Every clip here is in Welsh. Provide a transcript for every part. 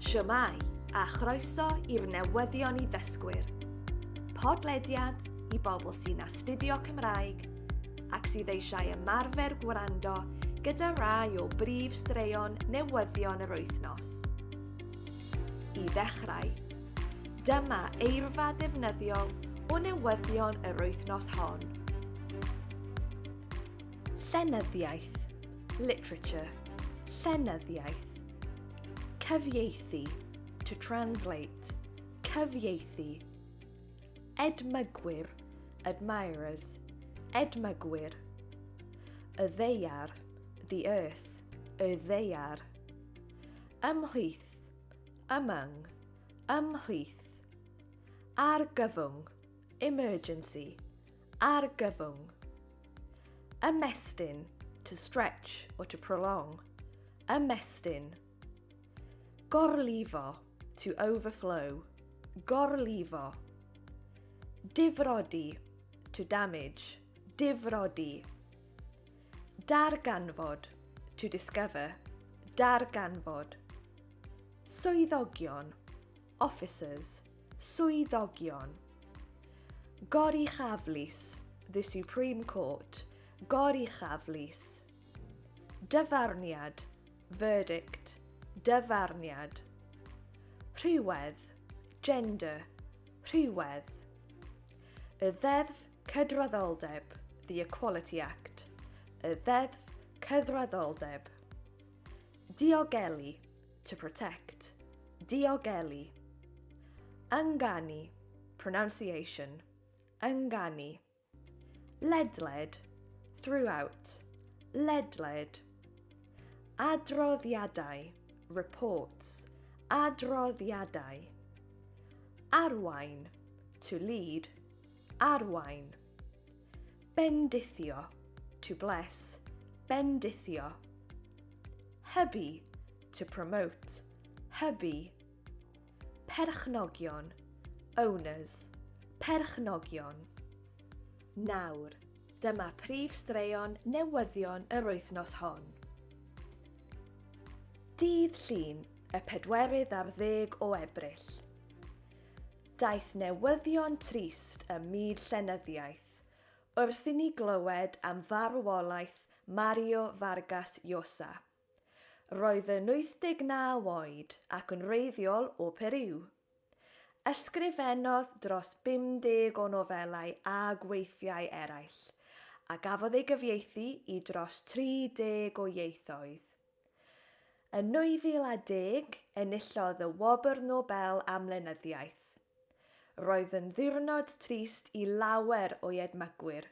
Shwmae, a chroeso i'r newyddion i ddysgwyr. Podlediad i bobl sy'n astudio Cymraeg ac sydd eisiau ymarfer gwrando gyda rai o brif straeon newyddion yr wythnos. I ddechrau, dyma eirfa ddefnyddiol o newyddion yr wythnos hon. Llenyddiaeth, literature, llenyddiaeth. Cyfieithu, to translate, cyfieithu. Edmygwyr, admirers, edmygwyr. Y ddeiar, the earth, y ddeiar. Ymhlith, among, ymhlith. Argyfwng, emergency, Argyfwng. Ymestyn, to stretch or to prolong. Ymestyn. Gorlifo, to overflow. Gorlifo. Difrodi, to damage. Difrodi. Darganfod, to discover. Darganfod. Swyddogion. Officers, Swyddogion. Goruchaf Lys, The Supreme Court, Goruchaf Lys. Dyfarniad, Verdict, Dyfarniad. Rhywedd, Gender, Rhywedd. Y Ddeddf Cydraddoldeb, The Equality Act, y Ddeddf Cydraddoldeb. Diogelu, to protect, diogelu. Ynganu, pronunciation, ynganu. Ledled, throughout, ledled. Adroddiadau, reports, adroddiadau. Arwain, to lead, arwain. Bendithio, to bless, bendithio. Hybu, to promote, hybu. Perchnogion, owners, perchnogion. Nawr, dyma prif straeon newyddion yr wythnos hon. Dydd Llun, y pedwerydd ar ddeg o Ebrill. Daeth newyddion trist ym myd llenyddiaeth wrth i ni glywed am farwolaeth Mario Vargas Llosa. Roedd yn 89 oed ac yn wreiddiol o Periw. Ysgrifennodd dros 50 o nofelau a gweithiau eraill, a gafodd ei gyfieithu i dros 30 o ieithoedd. Yn 2010, enillodd y Wobr Nobel am Lenyddiaeth. Roedd yn ddiwrnod trist i lawer o'i edmygwyr,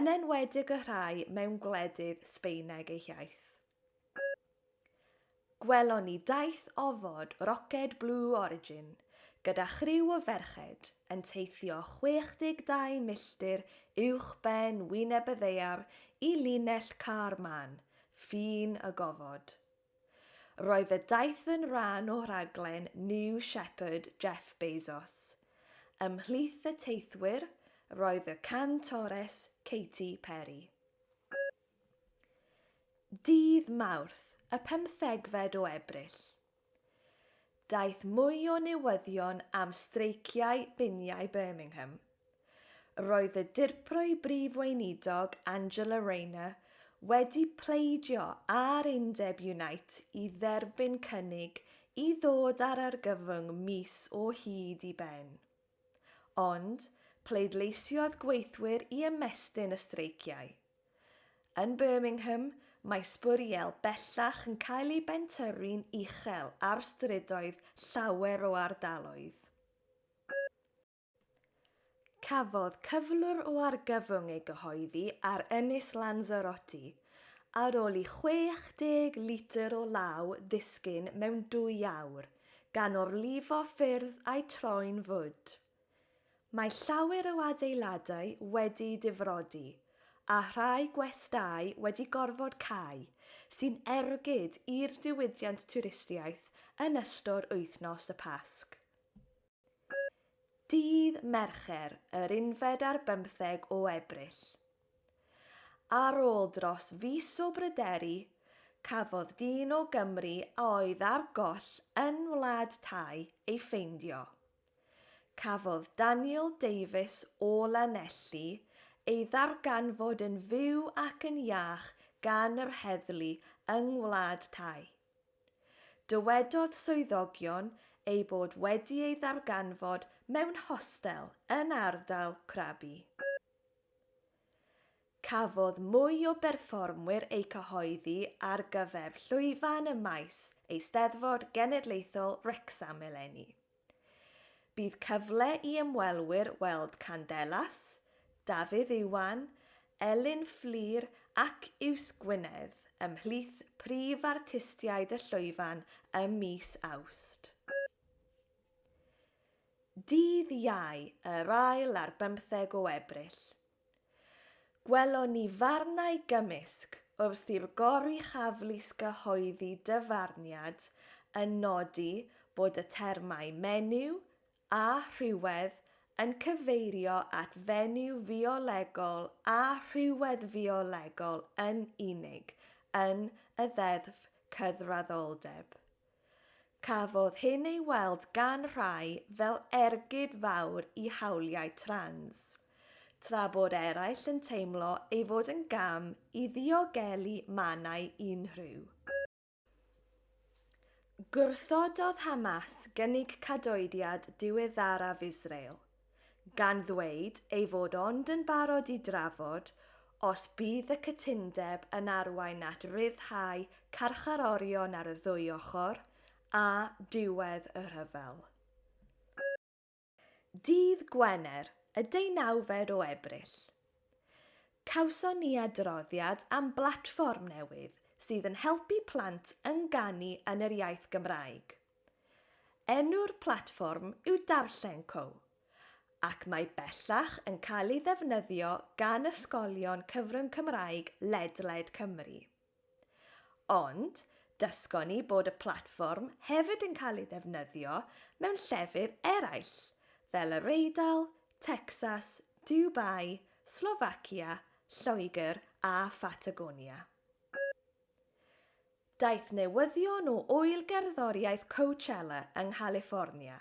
yn enwedig y rhai mewn gwledydd Sbaeneg eu hiaith. Gwelon ni daith ofod roced Blue Origin gyda chriw o ferched yn teithio 62 milltir uwchben wyneb y ddaear i linell Kármán, Ffin y Gofod. Roedd y daith yn rhan o raglen New Shepherd Jeff Bezos. Ymhlith y teithwyr roedd y cantores Katy Perry. Dydd Mawrth, y pymthegfed o Ebrill. Daeth mwy o newyddion am streiciau biniau Birmingham. Roedd y Dirprwy Brif Weinidog Angela Rayner wedi pleidio â'r undeb Unite i dderbyn cynnig i ddod â'r argyfwng mis o hyd i ben. Ond, pleidleisiodd gweithwyr i ymestyn y streiciau. Yn Birmingham, mae sbwriel bellach yn cael ei bentyrru'n uchel ar strydoedd llawer o ardaloedd. Cafodd cyflwr o argyfwng ei gyhoeddi ar Ynys Lanzarote ar ôl i 60 litr o law ddisgyn mewn dwy awr, gan orlifo ffyrdd a'u troi'n fwd. Mae llawer o adeiladau wedi'u difrodi, a rhai gwestai wedi gorfod cau, sy'n ergyd i'r diwydiant twristiaeth yn ystod wythnos y Pasg. Dydd Mercher, yr unfed ar bymtheg o Ebrill. Ar ôl dros fis o bryderu, cafodd dyn o Gymru a oedd ar goll yn Wlad Thai ei ffeindio. Cafodd Daniel Davies o Lanelli ei ddarganfod yn fyw ac yn iach gan yr heddlu yng Ngwlad Thai. Dywedodd swyddogion eu bod wedi ei ddarganfod mewn hostel yn ardal Krabi. Cafodd mwy o berfformwyr eu cyhoeddi ar gyfer llwyfan y maes, Eisteddfod Genedlaethol Wrecsam eleni. Bydd cyfle i ymwelwyr weld Candelas, Dafydd Iwan, Elin Fflur ac Yws Gwynedd ymhlith prif artistiaid y llwyfan ym mis Awst. Dydd Iau, yr ail ar bymtheg o Ebrill, Gwelon ni farnau gymysg wrth i'r Goruchafflys gyhoeddi dyfarniad yn nodi bod y termau 'menyw' a 'rhywedd' yn cyfeirio at fenyw fiolegol a rhywedd fiolegol yn unig yn y Ddeddf Cydraddoldeb. Cafodd hyn ei weld gan rhai fel ergyd fawr i hawliau trans, tra bod eraill yn teimlo ei fod yn gam i ddiogelu mannau unrhyw. Gwrthododd Hamas gynnig cadoediad diweddaraf Israel, gan ddweud ei fod ond yn barod i drafod os bydd y cytundeb yn arwain at ryddhau carcharorion ar y ddwy ochr a diwedd y rhyfel. Ddydd Gwener, y deunawfed o Ebrill, cawson ni adroddiad am blatfform newydd sydd yn helpu plant ynganu yn yr iaith Gymraeg. Enw'r platfform yw Darllen Co, ac mae bellach yn cael ei ddefnyddio gan ysgolion cyfrwng Cymraeg ledled Cymru. Ond, dysgon ni bod y platfform hefyd yn cael ei ddefnyddio mewn llefydd eraill, fel Yr Eidal, Tecsas, Dubai, Slofacia, Lloegr a Phatagonia. Daeth newyddion o ŵyl gerddoriaeth Coachella yng Nghaliffornia,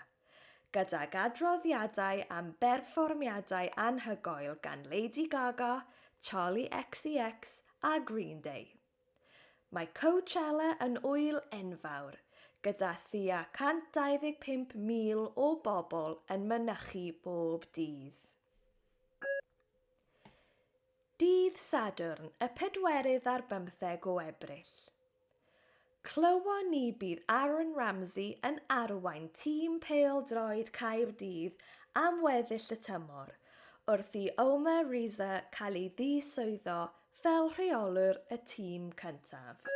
gydag adroddiadau am berfformiadau anhygoel gan Lady Gaga, Charli XCX a Green Day. Mae Coachella yn ŵyl enfawr, gyda thua 125,000 o bobl yn mynychu bob dydd. Dydd Sadwrn y pedwerydd ar bymtheg o Ebrill. Clywon ni bydd Aaron Ramsey yn arwain tîm pêl-droed Caerdydd am weddill y tymor, wrth i Omer Riza cael ei ddiswyddo fel rheolwr y tîm cyntaf.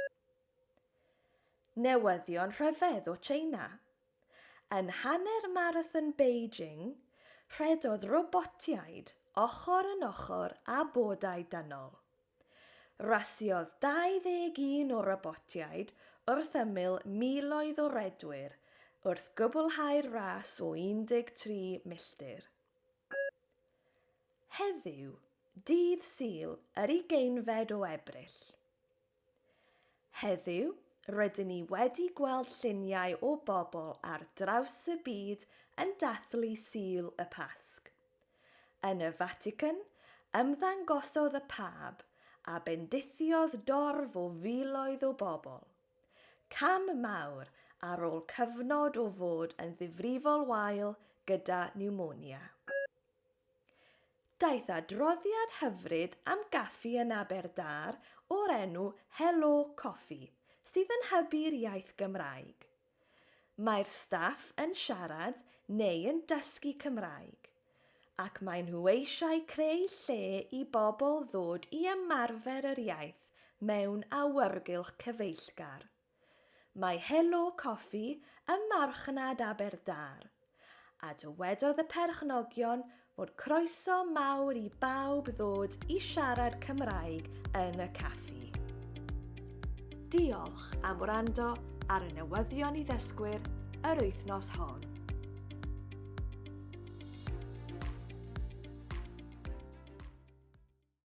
Newyddion rhyfedd o Tsieina. Yn hanner Marathon Beijing, rhedodd robotiaid ochr yn ochr â bodau dynol. Rasiodd 21 o robotiaid wrth ymyl miloedd o redwyr wrth gwblhau'r ras o 13 milltir. Heddiw, dydd Sul yr ugeinfed o Ebrill, Heddiw, rydyn ni wedi gweld lluniau o bobl ar draws y byd yn dathlu Sul y Pasg. Yn y Fatican, ymddangosodd y Pab a bendithiodd dorf o filoedd o bobl. Cam mawr ar ôl cyfnod o fod yn ddifrifol wael gyda niwmonia. Daeth adroddiad hyfryd am gaffi yn Aberdâr o'r enw Helo Coffi, sydd yn hybu'r iaith Gymraeg. Mae'r staff yn siarad neu yn dysgu Cymraeg, ac maen nhw eisiau creu lle i bobl ddod i ymarfer yr iaith mewn awyrgylch cyfeillgar. Mae Helo Coffi ym Marchnad Aberdâr, a dywedodd y perchnogion fod croeso mawr i bawb ddod i siarad Cymraeg yn y caffi. Diolch am wrando ar y newyddion i ddysgwyr yr wythnos hon.